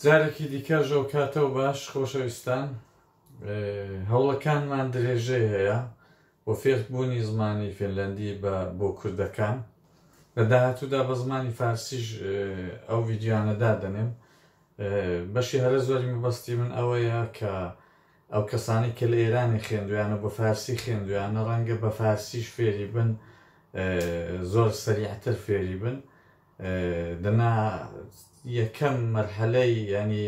جارێکی دیکە ژەو کاتەو باش خۆشەویستان هەوڵەکانمان درێژەی هەیە بۆ فێربوونی زمانی فێنلەندی بە بۆ کوردەکان لە داهاتوودا بە زمانی فارسیش ئەو ڤیددیوانەدا دەنێم بەشی هەرە زۆری مەبەستی من ئەوەیە کە ئەو کەسانی کە لە ئێرانی خوێندویانە بە فارسی خوێندویانە ڕەنگە بە فارسیش فێری بن زۆر سەریعتر فێری بن دەنا یەکەم مەرحەلەی ینی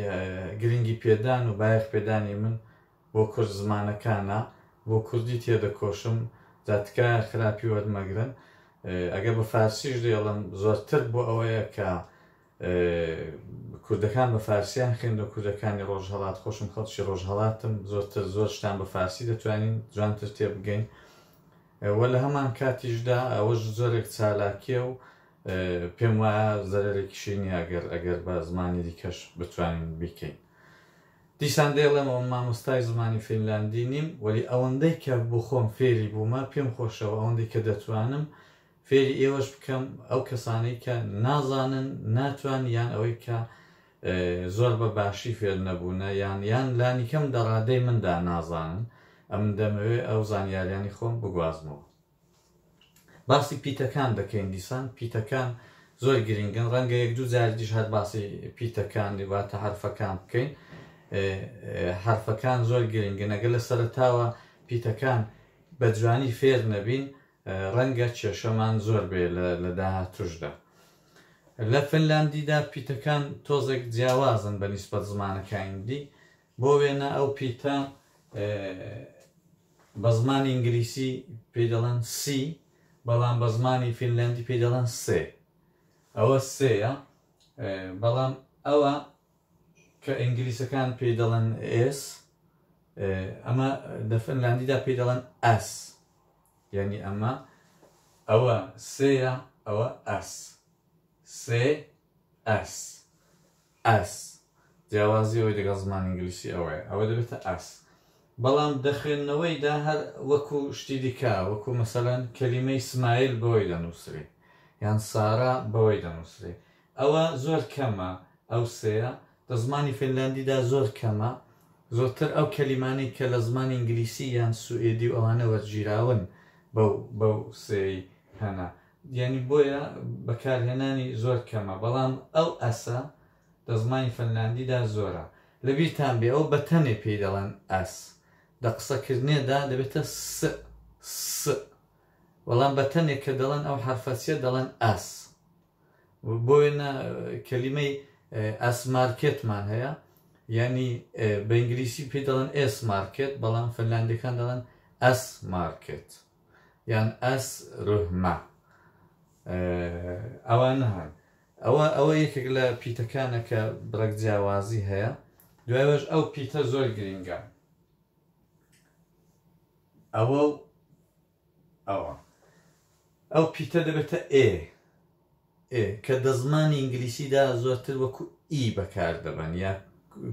گرنگی پێدان و بایەخ پێدانی من بۆ کورد زمانەکانە بۆ کوردی تێدەکۆشم دا تکایە خراپی وەرمەگرن ئەگەر بە فارسیش دێڵم زۆرتر بۆ ئەوەیە کە کوردەکان بە فارسیان خوێند و کوردەکانی ڕۆژهڵات خۆشم خەڵکی ڕۆژهڵاتم زۆرتر زۆر شتان بە فارسی دەتوانین جوانتر تێبگەین وە لە هەمان کاتیشدا ئەوەش زۆرێک چالاکیە و پێم وایە زەرەرێکیشی نیە ئەگەر ئەگەر بە زمانی دیکەش بتوانین بیکەین. دیسان دەیڵێمەوە مامۆستای زمانی فینلاندی نیم وەلی ئەوەندەی کە بۆ خۆم فێری بوومە پێم خۆشە و ئەوەندەی کە دەتوانم فێری ئێوەش بکەم ئەو کەسانەی کە نازانن ناتوان یان ئەوەی کە زۆر بە باشی فێر نەبوونە یان یان لانیکەم دەڕادەی مندا نازانن ئەمن دەمەوێ ئەو زانیاریانی خۆم بگوازمەوە. باسی پیتەکان دەکەین دیسان پیتەکان زۆر گرنگن ڕەنگە یەک دوو جاری دیش هەر باسی پیتەکان واتە حرفەکان بکەین حرفەکان زۆر گرنگە نەگە لە سەرتاوە پیتەکان بە جوانی فێر نەبین ڕەنگە کێشەمان زۆر بێ لە داهاتوشدا لە فنلاندیدا پیتەکان تۆزێک جیاوازن بە نیسبەت زمانەکانی دی بۆ وێنە ئەو پیتە بە زمانی ئینگلیسی پێی دەڵێن سی بەڵام بە زمانی فینلەندی پێی دەڵێن سێ ئەوە سێە بەڵام ئەوە کە ئینگلیسەکان پێی دەڵێن ئێس ئەمە لە فنلاندیدا پێی دەڵێن ئەس یعنی ئەمە ئەوە سێە ئەوە ئەس سێ ئەس ئەس، جیاوازی ئەوەی لەگەڵ زمانی ئینگلیسی ئەوەیە ئەوە دەبێتە ئەس بەڵام دە خوێندنەوەیدا هەر وەکو شتی دیکە وەکو مەسەلەن کەلیمەی سمایل بەوەی دەنووسرێ یان سارا بەوەی دەنووسرێ ئەوە زۆر کەمە ئەو سێیە لە زمانی فینلاندیدا زۆر کەمە زۆرتر ئەو کەلیمانەی کە لە زمانی ئینگلیسی یان سوئێدی و ئەوانە وەرگیراون بەو بەو سێی هەنە یانی بۆیە بەکارهێنانی زۆر کەمە بەڵام ئەو ئەسە دە زمانی فەنلاندیدا زۆرە. لەبیرتان بێ ئەو بە تەنێ پێی دەڵێن ئەس. دە قسەکردنێدا دەبێتە س س بەڵام بە تەنێ کە دەڵێن ئەو حەرفە سیە دەڵێن ئەس. بۆ وێنە کەلیمەی ئەس مارکێتمان هەیە یانی بە ئینگلیسی پێی دەڵێن ئێس مارکێت بەڵام فەنلاندیەکان دەڵێن ئەس مارکێت. یان ئەس رهمە ئەوانە هەن ئەوە ئەوە یەکێک لە پیتەکانە کە بڕێک جیاوازی هەیە دوایش ئەو پیتە زۆر گرنگە ئەوە ئەوە ئەو پیتە دەبێتە ئێ ئێ کە دەزمانی ئینگلیسیدا زۆرتر وەکو ئی بەکار دەبەن یا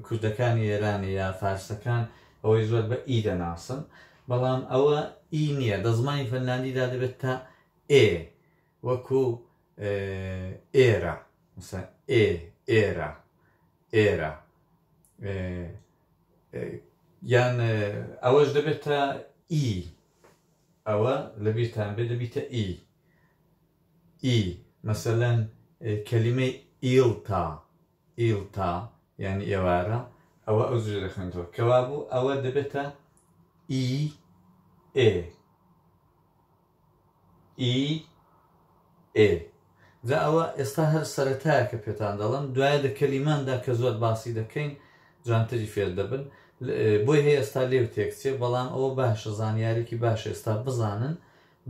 کوردەکانی ئێران یا فارسەکان ئەوەی زۆر بە ئی دەناسن بەڵام ئەوە ئی نییە دەزمانی فەنلاندیدا دەبێت تا ئێ وەکو ئێرە مثلا ئێ ئێرە ئێرە یان ئەوەش دەبێتە ئی ئەوە لە بیرتان بێ دەبیتە ئی ی، مەسەلەن کەلیمەی ئیڵتا، Ilta، یانی ئێوارە، ئەوە ئەو جورە دەخوێنێتەوە. کەوابوو ئەوە دەبێتە، ی، ئێ، ی، ئێ. جا ئەوە ئێستا هەر سەرەتایە کە پێتان دەڵێم، دوایە لە کەلیماندا کە زۆر باسی دەکەین جوانتری فێر دەبن. بۆی هەیە ئێستا لێو تێکچێ، بەڵام ئەوە باشە زانیارێکی باشە ئێستا بزانن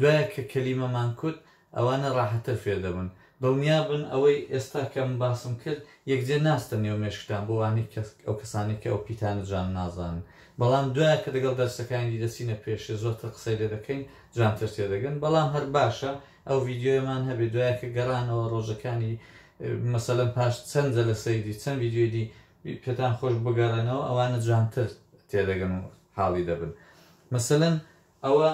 دوایە کە کەلیمەمان کوت ئەوانە ڕاحەتر فێر دەبن. دڵنیا بن ئەوەی ئێستا کەم باسم کرد یەکجێ ناستە نێو مێشکتان بۆ وانەی کە ئەو کەسانەی کە ئەو پیتانە جوان نازانن بەڵام دوایە کە دەگەڵ دەرسەکانی دی دەچینە پێشێ زۆرتر قسەی لێ دەکەین جوانتر تێ دەگەن بەڵام هەر باشە ئەو ڤیدیۆیەمان هەبێ دوایە کە گەڕانەوە ڕۆژەکانی مەسەلەن پاش چەند جەلەسەی دی چەند ڤیدیۆی دی پێتان خۆش بگەڕێنەوە ئەوانە جوانتر تێ دەگەن و حاڵی دەبن مەسەلەن ئەوە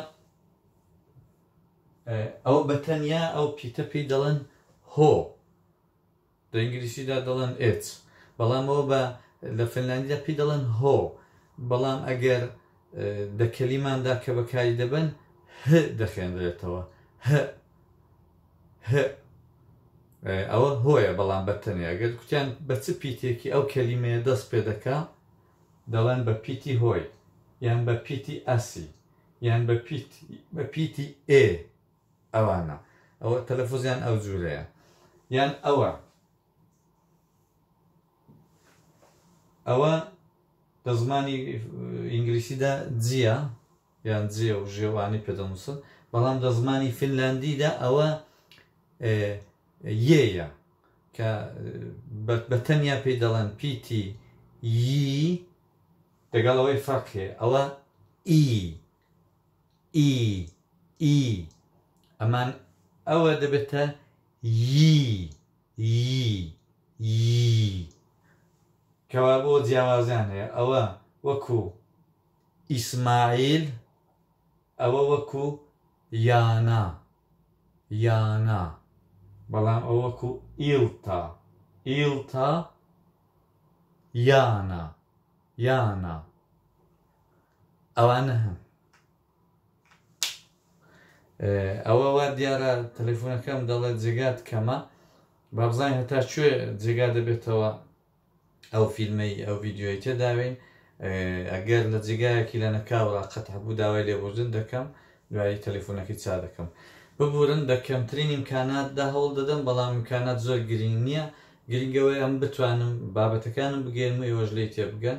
ئەو بە تەنیا ئەو پیتە پێی دەڵێن هۆ، لە ئینگلیسیدا دەڵێن ئێت، بەڵام ئەوە بە لە فنلاندیدا پێی دەڵێن هۆ، بەڵام ئەگەر دە کەلیماندا کە بەکاری دەبەن ه دەخوێنرێتەوە، هئ، هئ، ئەوە هۆیە بەڵام بە تەنیا، ئەگەر کوتیان بە چ پیتێکی ئەو کەلیمەیە دەست پێ دەکا دەڵێن بە پیتی هۆی یان بە پیتی ئاسی. یان بە پیت بە پیتی ئێ ئەوانە ئەوە تەلەفوزیان ئەو جوورەیە یان ئەوە ئەوە لە زمانی ئینگلیسیدا جیە یان جێ و ژێوانی پێدەنووسن بەڵام لە زمانی فینلاندیدا ئەوە یەیە کە بە تەنیا پێی دەڵێن پیتی ی دەگەڵ ئەوەی فەرق هەیە ئەوە ئی ئی ئی ئەمان ئەوە دەبێتە یی یی یی کەوا بۆ جیاوازیان هەیە ئەوە وەکو ئیسماعیل ئەوە وەکو یانا یانا بەڵام ئەو وەکو ئیڵتا ئیڵتا یانا یانا ئەوانە هەن ئەوە وا دیارە تەلەفۆنەکەم دەڵێت جێگات کەمە با بزانین هەتا کوێ جێگا دەبێتەوە ئەو فیلمەی ئەو ڤیددیوی تێداوین ئەگەر لە جێگایەکی لەنەکاوڕا قەتع بوو داوای لێبوردن دەکەم دوایی تەلیفونەکەی چا دەکەم ببورن بە کەمترین ئیمکانات دا هەوڵ دەدەم بەڵام ئیمکانات زۆر گرینگ نیە گرینگ ئەوەیە ئەم بتوانم بابەتەکانم بگەیەنم و ئێوەش لێی تێبگەن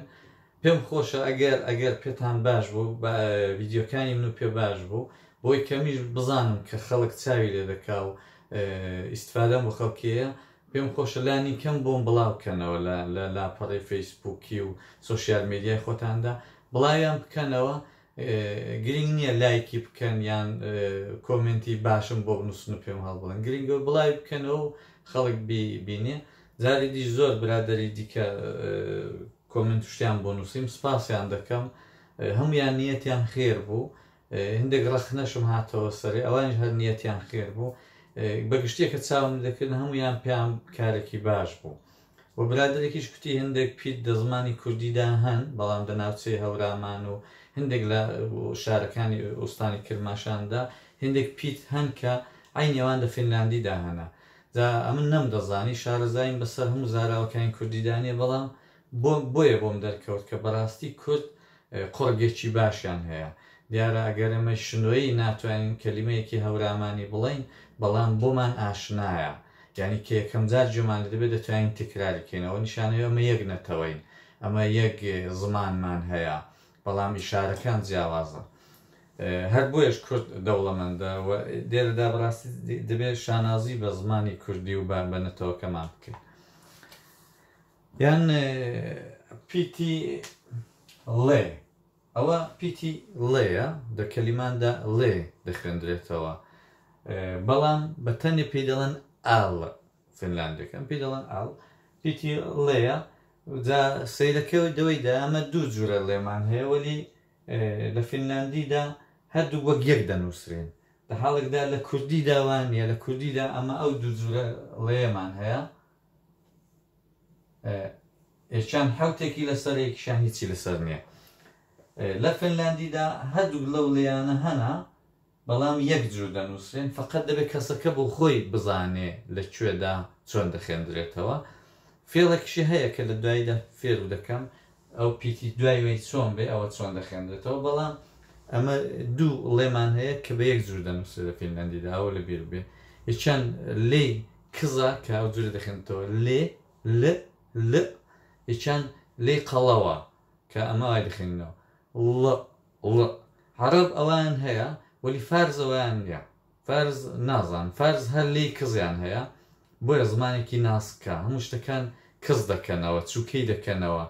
پێم خۆشە ئەگەر ئەگەر پێتان باش بوو بە ڤیدیۆکانی من و پێ باش بوو بۆی کەمیش بزانم کە خەڵک چاوی لێ دەکا و ئیستفادەم بۆ خەڵکیەیە پێم خۆشە لانی کەم بۆم بڵاو کەنەوە لە لە لاپەڕەی فەیسبووکی و سۆشیال میدیای خۆتاندا بڵاویان بکەنەوە گرینگ نییە لایکی بکەن یان کۆمێنتی باشم بۆ بنووسن و پێم هەڵبڵن گرینگە بڵاوی بکەنەوە و خەڵک بینێ جاری دی زۆر برادری دیکە کۆمنت شتیان بۆ نووسیم سپاسیان دەکەم هەمویان نیەتیان خێر بوو هندێک ڕەخنەشم هاتەوە سەرێ ئەوانیش هەر نیەتیان خێر بوو بەگشتێک کە چاوم دەکردن هەمویان پێیان کارێکی باش بوو و برادێکیش کوتی هندێک پیت دە زمانی کوردیدا هەن بەڵام دە ناوچەی هەورامان و هندێک لە شارەکانی ئوستانی کرماشاندا هندێک پیت هەن کە عینێوان دە فینلاندیدا هەنە دا ئەمن نەم دەزانی شارەزاین بەسەر هەموو زاراوەکانی کوردیدانە بەڵام بۆم بۆیە بۆم دەرکەوت کە بەراستی کورد قوڕگێکی باشیان هەیە دیارە ئەگەر ئێمەی شنۆیی ناتوانین کەلیمەیەکی هەورامانی بڵێین بەڵام بۆمان ئاشنایە یانی کە یەکەم جار گوێمان لێ دەبێت دەتوانین تکراری کەین ئەوە نیشانەی ئەمە یەک نەتەوەین ئەمە یەک زمانمان هەیە بەڵام ئیشارەکان جیاوازە هەر بۆیەش کورد دەوڵەمەندە و دێرەدا بەڕاستی دەبێت شانازی بە زمانی کوردی و بە بە نەتەوەکەمان بکەین یان پیتی ڵێ ئەوە پیتی ڵێیە دە کەلیماندا ڵێ دەخوێندرێتەوە بەڵام بە تەنێ پێی دەڵێن ئاڵ فنلاندەکەم پێی دەڵێن ئاڵ پیتی ڵێیە جا سەیرەکەەوە دەوەی دامە دوو جورە لێمان هەیە وەلی لە فینلاندیدا هەردوو وەک یەک دەنووسرێن لە حاڵکدا لە کوردی داوانە لە کوردیدا ئەمە ئەو دوو جورە ڵێمان هەیە ئێکیان حەوتێکی لەسەرە یەکیشیان هیچی لەسەر نیە لە فنلاندیدا هەردووک لەو لێیانە هەنە بەڵام یەک جور دەنووسرێن فقط دەبێت کەسەکە بۆ خۆی بزانێ لە کوێدا چۆن دەخێندرێتەوە فێڵێکشی هەیە کە لە دواییدا فێرو دەکەم ئەو پیتی دوای وەی چۆن بێ ئەوە چۆن دەخێنرێتەوە بەڵام ئەمە دوو ڵێمان هەیە کە بە یەک جور دەنووسرێت لە فینلاندیدا ئەوە لە بیر بێ یەکیان لێی کزە کە ئەو جورە دەخێنێتەوە لێ ل لئ یەکیان لێی قەڵەوە کە ئەمە وای دەخێنینەوە ڵئ ڵئ عەڕەب ئەوەیان هەیە وەلی فارس ئەوەیان نیە فارس نازان فارس هەر لێی کزیان هەیە بۆیە زمانێکی ناسکە هەموو شتەکان کز دەکەنەوە چوکەی دەکەنەوە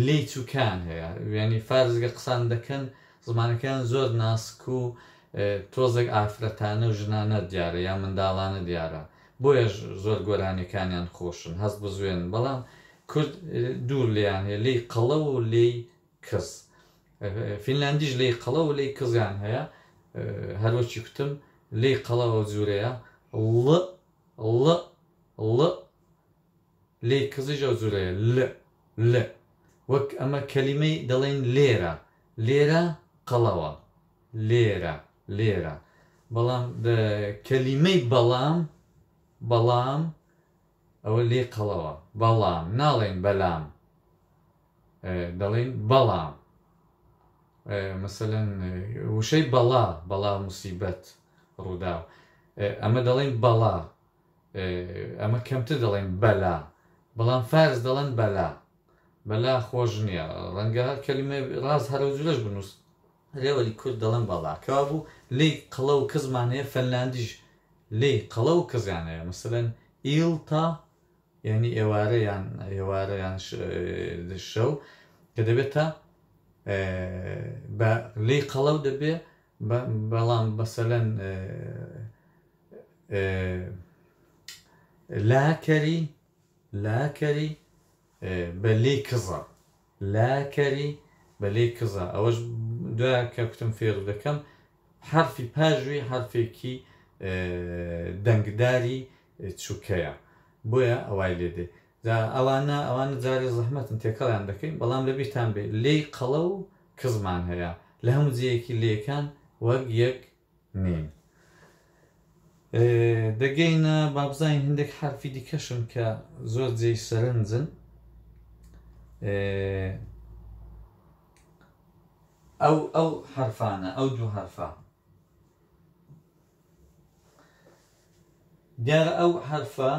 لێی چوکان هەیە وێنی فارزگە قسان دەکەن زمانەکەیان زۆر ناسک و تۆزێک ئافرەتانە و ژنانە دیارە یا منداڵانە دیارە بۆیەش زۆر گۆرانیەکانیان خۆشن هەست بزوێن بەڵام کورد دوور لێیان هەیە لی قەڵە و لی کز فینلاندیش لەی قەڵە و لەی کزیان هەیە هەر وەکی کوتم لەی قەڵە ئەو جورەیە ڵ ڵ ڵ لەی کزیش ئەو جورەیە ل ل وەک ئەمە کەلیمەی دەڵێن لێرە لێرە قەڵەوە لێرە لێرە بەڵام کەلیمەی بەڵام بەڵام ئەوە لێ قەڵەوە بەڵام ناڵێن بەلام دەڵێن بەڵام مەسەلەن وشەی بەڵا بەڵا موسیبەت ڕووداو ئەمە دەڵێن بەڵا ئەمە کەمتر دەڵێن بەلا بەڵام فارس دەڵێن بەلا بەلا خۆش نییە ڕەنگە کەلیمە ڕاز هەرە و جورەش بنووس رێوەلی کورد دەڵێن بەڵا کەوا بوو لی قەڵە و کەزمانەیە فەنلاندیش لی قەڵە و کەزیانەیە مەسەن ئیلتا یانی ئێوارە یان ئێوارە یان شەو کە دەبێتە بە لی قەڵەو دەبێ بەڵام بەسەلەن لاکەری لاکەری بە لی کزە لا کەری بە لەی کزە ئەوەش دوا کە کوتم فێرو دەکەم حەرفی پاژوی حەرفێکی دەنگداری چوکەیە بۆیە ئەوای لێ دێ جا ئەوانە ئەوانە جارێ زەحمەتن تێکەڵیان دەکەین بەڵام لە بیرتان بێ لێی قەڵە و کزمان هەیە لە هەموو جێیەکی لێکان وەک یەک نین دەگەینە بابزانین هندێک حرفی دیکەشن کە زۆر جێی سەرنجن ئەو ئەو حرفانە ئەو دوو حرفە دیارە ئەو حرفە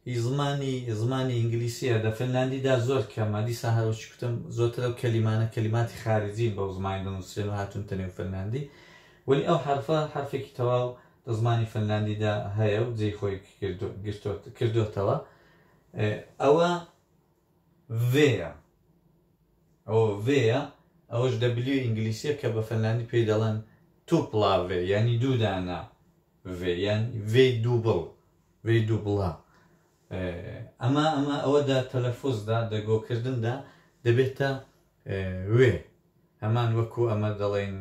ی زمانی زمانی ئینگلیسیە دە فنلاندی دا زۆر کەمە دیسان هەر وەکی کوتم زۆرتر ئەو کەلیمانە کەلیماتی خارجین بەو زمانە دەنوسرێن و هاتونتە نێو فنلاندی وەلی ئەو حەرفە حەرفێکی تەواو دە زمانی فنلاندی دا هەیە و جێی خۆی گرتۆ کردۆتەوە ئەوە ڤێیە ئەوە ڤێیە ئەوەش دەبلیو ئینگلیسیە کە بە فنلاندی پێی دەڵێن توپڵاڤێ یانی دوو دانە ڤ یان ڤی دووبڵ، ڤی دووبڵە، ئەما ئەما ئەوە دە تەلەفوز دا، دە گۆ کردن دا، دەبێتە وێ، هەمان وەکوو ئەمە دەڵێین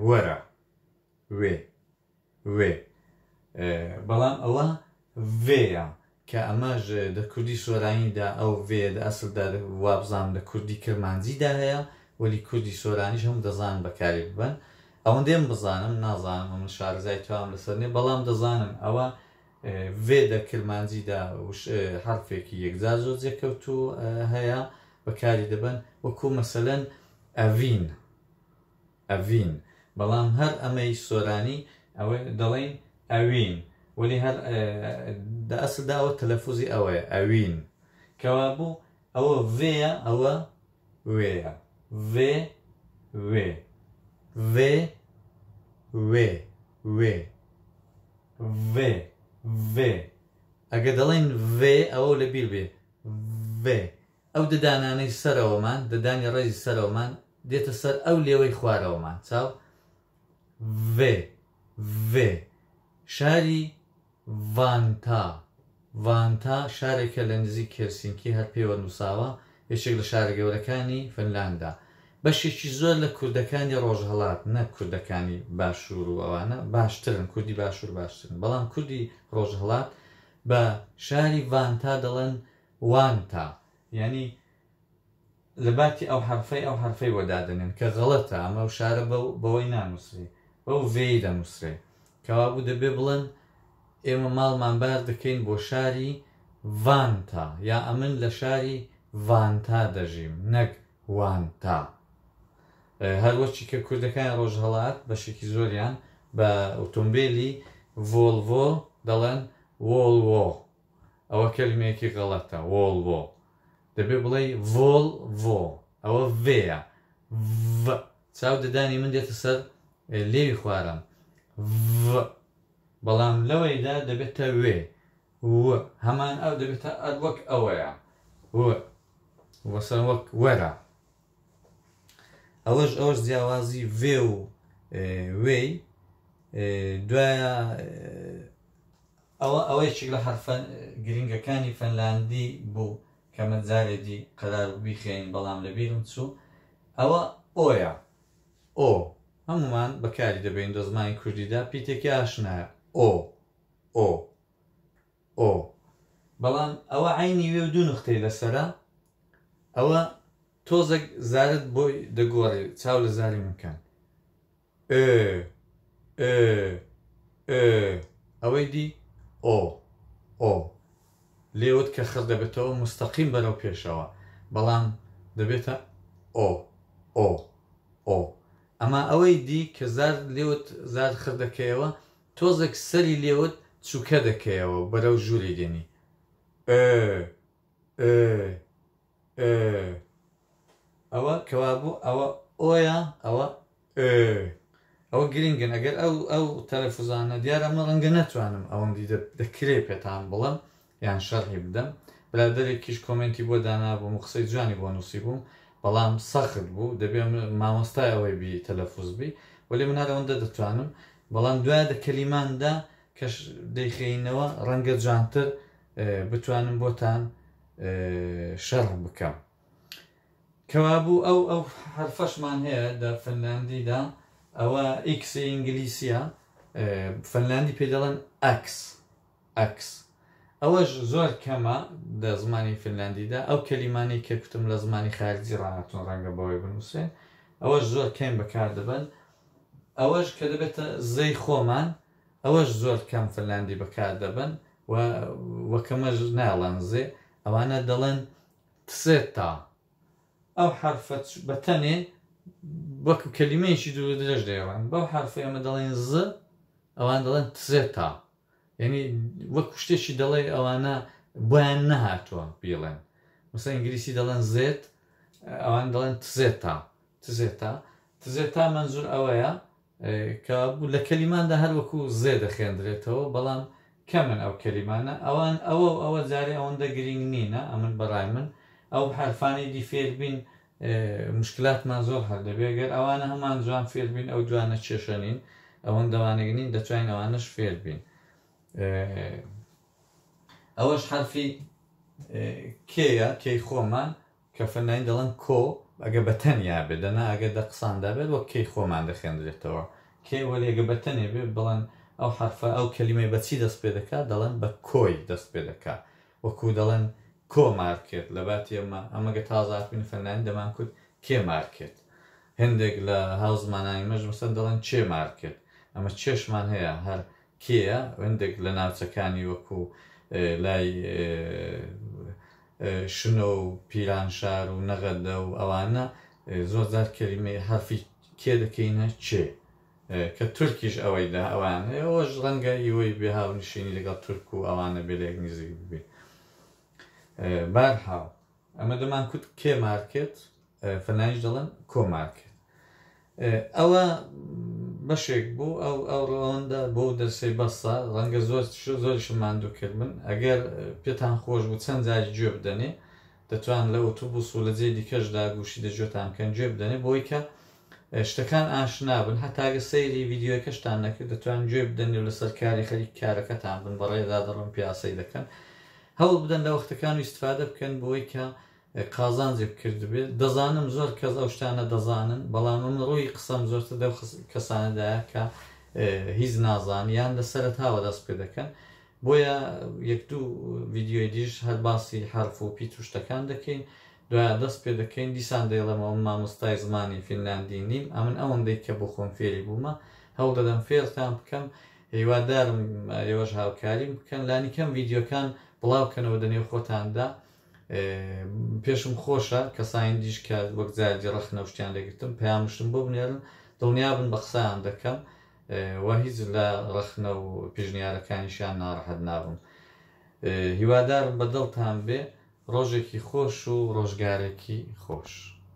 وەرە، وێ، وێ، بەڵام ئەوە ڤێ یە، کە ئەمەش دە کوردی سۆرانی دا ئەو ڤێیە دە ئەسڵ دا وابزانم لە کوردی کرمانجی دا هەیە وەلی کوردی سۆرانیش هەموو دەزانن بەکاری ببەن ئەوەندەی من بزانم نازانم ئەمن شارەزای تەوام لەسەر نیم بەڵام دەزانم ئەوە ڤێ دە کرمانجی دا وش حەرفێکی یەکجار زۆر جێکەوتوو هەیە بەکاری دەبەن وەکوو مەسەلەن ئەڤین ئەڤین، بەڵام هەر ئەمەی سۆرانی ئەوە دەڵێین ئەوین، وەلی هەر دە ئەسلدا ئەوە تەلەفوزی ئەوەیە، ئەوین. کەوابوو ئەوە ڤێیە، ئەوە وێیە. ڤێ، وێ. ڤێ، وێ، وێ. ڤێ، ڤێ. ئەگەر دەڵێین ڤێ، ئەوە لەبیر بێ. ڤێ. ئەو ددانانەی سەرەوەمان، ددانی ڕێزی سەرەوەمان، دێتە سەر ئەو لێوەی خوارەوەمان، چاو، ڤ، ڤ، شاری، ڤانتا، Vantaa، شارێکە لە نزیک هێلسینکی، هەر پێوە نووساوە، یەکێک لە شارە گەورەکانی فنلاندا. بەشێکی زۆر لە کوردەکانی ڕۆژهەڵات، نەک کوردەکانی باشوور و ئەوانە، باشترن، کوردی باشوور باشترن، بەڵام کوردی ڕۆژهەڵات بە شاری ڤانتا دەڵێن، وانتا، یانی لە باتی ئەو حەرفەی ئەو حەرفەی بۆ دادەنێن، کە غەڵەتە، ئەمە وشارە بەو بەوەی نانووسرێ، بەو ڤێی دەنووسرێ. کەوابوو دەبێ بڵێن، ئێمە ماڵمان بار دەکەین بۆ شاری ڤانتا، یا ئەمن لە شاری ڤانتا دەژیم، نەک وانتا. هەروەچی کە کوردەکانی ڕۆژهەڵات بەشێکی زۆریان بە ئوتۆمبێلی ڤۆڵڤۆ دەڵێن وۆڵوۆ. ئەوە کەلمەیەکی غەڵەتە وۆڵڤۆ دەبێ بڵێی ڤۆڵ ڤۆ ئەوە ڤێیە ڤ چاو ددانی من دێتە سەر لێوی خوارەم ڤ بەڵام لەوەیدا دەبێتە وێ و هەمان ئەو دەبێتە ئەر وەک ئەوەیە و وەسەن وەک وەرە ئەوەش ئەوەش جیاوازی ڤێ و وێی دوایە ئەوە ئەوە یەکێک لە حەرفە گرنگەکانی فەنلاندی بوو کە من جارێ دی قەرار بوو بیخوێنین بەڵام لە بیرم چوو. ئەوە ئۆیە. ئۆ. هەموومان بەکاری دەبەین دە زمانی کوردیدا پیتێکی ئاشنایە. ئۆ. ئۆ. ئۆ. بەڵام ئەوە عەینی وێ و دوو نوختەی لەسەرە. ئەوە تۆزەک زارت بۆی دەگۆڕێ چاو لە زاری من کەن. ئۆ ئۆ ئۆ ئەوەی دی ئۆ ئۆ لێوت کە خڕ دەبێتەوە مستەقیم بەرەو پێشەوە بەڵام دەبێتە ئۆ ئۆ ئۆ ئەما ئەوەی دی کە زار لێوت زار خڕ دەکەیەوە تۆزێک سەری لێوت چووکە دەکەیەوە بەرەو ژووری دێنی ئۆ ئۆ ئێ ئەوە کەوابوو ئەوە ئۆیە ئەوە ئێ ئەوە گرینگن ئەگەر ئەو ئەو تەلەفوزانە دیارە من ڕەنگە نەتوانم ئەوەندی دەکرێ پێتان بڵم یان شەرحی بدەم برادێکیش کۆمنتی بۆ دانابووم و قسەی جوانی بۆ نووسی بووم بەڵام سەخت بوو دەبێ مامۆستای ئەوەی بی تەلەفوز بی وەلی من هەر ئەوەندە دەتوانم بەڵام دوای دە کەلیماندا کەش دەیخینەوە ڕەنگە جوانتر بتوانم بۆتان شەرح بکەم. کەوابوو ئەو ئەو حەرفەشمان هەیە لە فنلاندیدا ئەوە ئیکسی ئینگلیسیە فنلاندی پێ دەڵێن ئەکس ئەکس ئەوەش زۆر کەمە لە زمانی فنلاندیدا ئەو کەلیمانی کە کوتم لە زمانی خارجی ڕاهاتون ڕەنگە بەوەی بنووسێن ئەوەش زۆر کەین بەکار دەبن ئەوەش کە دەبێتە زەی خۆمان ئەوەش زۆر کەم فنلاندی بەکار دەبەن و وەک ئەمەش ناڵەنزێ ئەوانە دەڵێن تسێتا ئەو حرفە بە تەنێ وەکو کەلیمەیەکی دوور درێژ دەێڕن بەو حرفی ئەمە دەڵێن ز ئەوان دەڵێن تزێتا یعنی وەکو شتێکی دەڵێ ئەوانە بۆیان نەهاتووە بیڵێن مثل ئینگلیسی دەڵێن زێت ئەوان دەڵێن تزێتا تزێتا تزێتا منزور ئەوەیە کە لە کەلیماندا هەر وەکوو زێ دەخوێندرێتەوە، بەڵام کەمن ئەو کەلیمانە، ئەوان ئەوە و ئەوە جارێ ئەوەندە گرینگ نینە، ئەمن بە ڕای من ئەو حەرفانەی دی فێر بین موشکلاتمان زۆر حەل دەبێ، گەر ئەوانە هەمان جوان فێر بین ئەو دوانە کێشە نین، ئەوەندە وانەگ نین دەتوانین ئەوانەش فێر بین. ئەوەش حەرفی کێ یە، کێی خۆمان؟ کە فەنناین دەڵێن کۆ ئەگە بە تەنیا بێ دەنا ئەگە دە قسان دابێت وەک کەی خۆمان دەخێندرێتەوە کێ وەلی ئەگە بە تەنێ بێ بڵێن ئەو حەرفە ئەو کەلیمەی بە چی دەست پێ دەکا دەڵێن بە کۆی دەست پێ دەکا وەکوو دەڵێن کۆ مار کرد لە باتی ئەمە ئەمە گە تازە هاتبووین فەنناین دەمان کوت کێ مار کرد هێندێک لە هاو زمانانی مەش مەسەن دەڵێن چێ مار کرد ئەمە چێشمان هەیە هەر کێیە هندێک لە ناوچەکانی وەکو لای شنۆ و پیرانشار و نەغەدە و ئەوانە زۆر جار کەلیمەی حرفی کێ دەکەینە چێ کە تورکیش ئەوەی دا ئەوان ئەوەش ڕەنگە ئیوەی بێ هاونشینی لەگەڵ تورک و ئەوانە بێ لێک نزیک بێ بارحاڵ ئەمە دەمان کوت کێ مار کرد فەلانیش دەڵێن کۆ مار کرد ئەوە بەشێک بوو ئەو ئەو ڕەوەندە بۆ دەرسەی بەسە ڕەنگە زۆر زۆر شماندوو کرد من ئەگەر پێتان خۆش بوو چەند جاری گوێ بدەنێ دەتوان لە ئۆتوبوس و لە جێ دیکەشدا گوشی دەجوێتان بکەن گوێ بدەنێ بۆی کە شتەکان ئاشنا بن هەتاگە سەیری ڤیدیۆیەکەشتان نەکرد دەتوان گوێ بدەن و لەسەر کاری خەریکی کارەکەتان بن بەڕێدا دەڵم پیاسەی دەکەن هەوڵ بدەن لە وەختەکان و استفادە بکەن بۆی کە قازانجی بکردبێت دەزانم زۆر کەس ئەو شتانە دەزانن بەڵام من ڕووی قسەم زۆرتر دەو کەسانەدایە کە هیچ نازان یان لە سەرتاوە دەست پێ دەکەن بۆیە یەک دوو ڤیددیوی دیش هەر باسی حرف و پیت و شتەکان دەکەین دوایە دەست پێ دەکەین، دیسان دەیڵێمەوە من مامۆستای زمانی فینلاندی نیم، ئەمن ئەوەندەی کە بۆ خۆم فێری بوومە، هەوڵ دەدەم فێرتان بکەم، هیوادارم ئێوەش هاوکاریم بکەن، لانیکەم ڤیدیۆکان بڵاو کەنەوە دە نێو خۆتاندا، پێشم خۆشە کەسانی دیش کە وەک جارجی ڕەخنە و شتیان لێ گرتم پەیامشتم بۆ بنێرن، دڵنیابن بە قسەیان دەکەم و هیچ لە ڕەخنە و پیشنیارەکانیشیان ناڕەحەت نابم. هیوادارم بە دڵتان بێ. ڕۆژێکی خۆش و ڕۆژگارێکی خۆش.